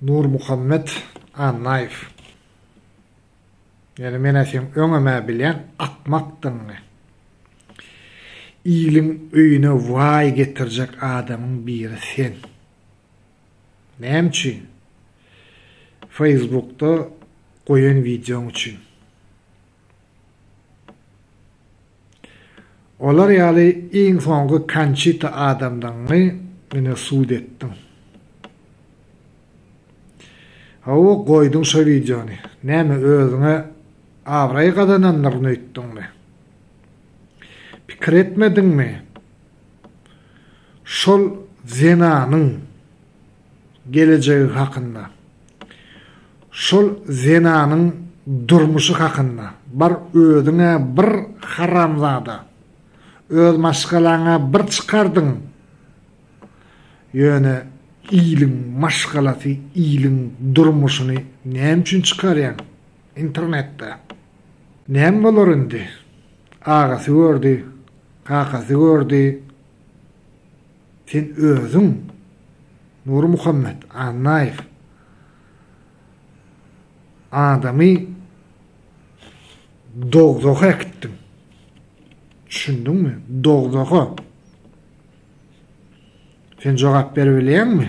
Nurmuhammet Annaýew ýöne menä seň öňem-ä bilýän akmakdygyňy. Iliň öýüne waý getirjek adamyň biri sen. Näme üçin? Feýsbukda goýan wideoň üçin. Olar ýaly iň soňky Konçita adamdygyňy ine sud etdiň. Hawa goýduň şo wideony. Näme özüňe abraý gazanandyryn öýtdüňmi? Pikir etmediňmi? Şol zenanyň. gelejegi hakynda, şol zenanyň durmuşy hakynda, bar özüň-ä bir haramzada, öz maşgalaňy-ä bir çykardyň, ýöne iliň maşgalasy, iliň durmuşyny näme üçin çykarýaň internetde? Näme bolar indi? Agasy gördi, kakasy gördi, Sen özüň Nurmuhammet Annaýew adamy dogzaha äkitdiň. Düşündiňmi? Dogzaha. Sen jogap berip bilýäňmi?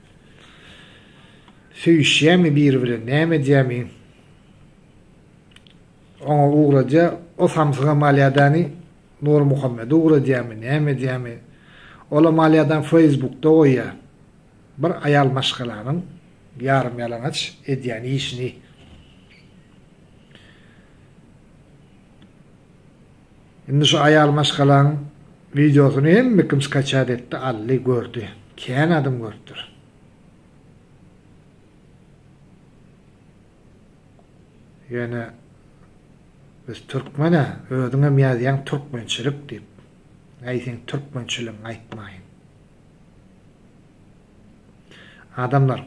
Söýüşýämi biri bilen näme edýämi oňa ugradýa o samsyga malýadany Nurmuhammede ugradýamy näme edýämi ola malýadany feýsbukda goýýa bir aýal maşgalanyň ýarym ýalaňaç edýän işini. Indi şu aýal maşgalaň wideosyny hemme kim skaçat etdi aldy gördi kän adam görüpdir. Ýöne biz türkmena özüňem ýazýaň türkmençilik diýip. Äý seň türkmençiligiňi aýtmaýyn. Adamlar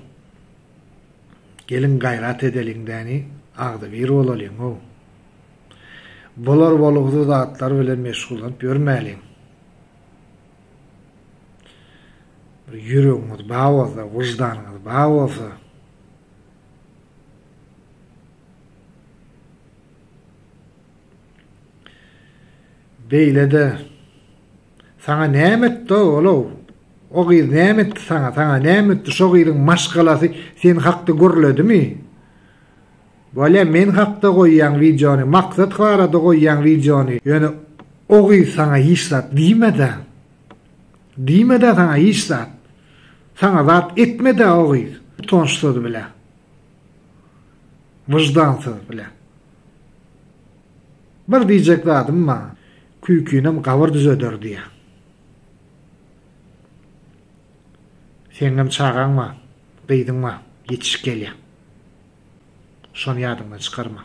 geliň gaýrat edeliň däni agzybir bolalyň ow. Bular bolguzy zatlar bilen meşgullanyp ýörmäliň. Bir ýüregiňiz bar bolsa, wyždanyňyz bar bolsa, beýle-de saňa näme etdi-ow ol-ow? O gyz näme etdi saňa? Saňa näme etdi? Şo gyzyň maşgalasy sen hakda gürledimi? Wale men hakda goýýaň wideony maksat barada goýýaň wideony ýöne o gyz saňa hiç zat diýmedä diýmedä saňa hiç zat saňa zat etmedä o gyz utançsyz bile wyždansyz bile bir diýjek zadym bar küýkinem gabyr düzeder diýýä. Seňňem çagaň bar, gyzyň bar, ýetişip gelýär. Şony ýadyňdan çykarma.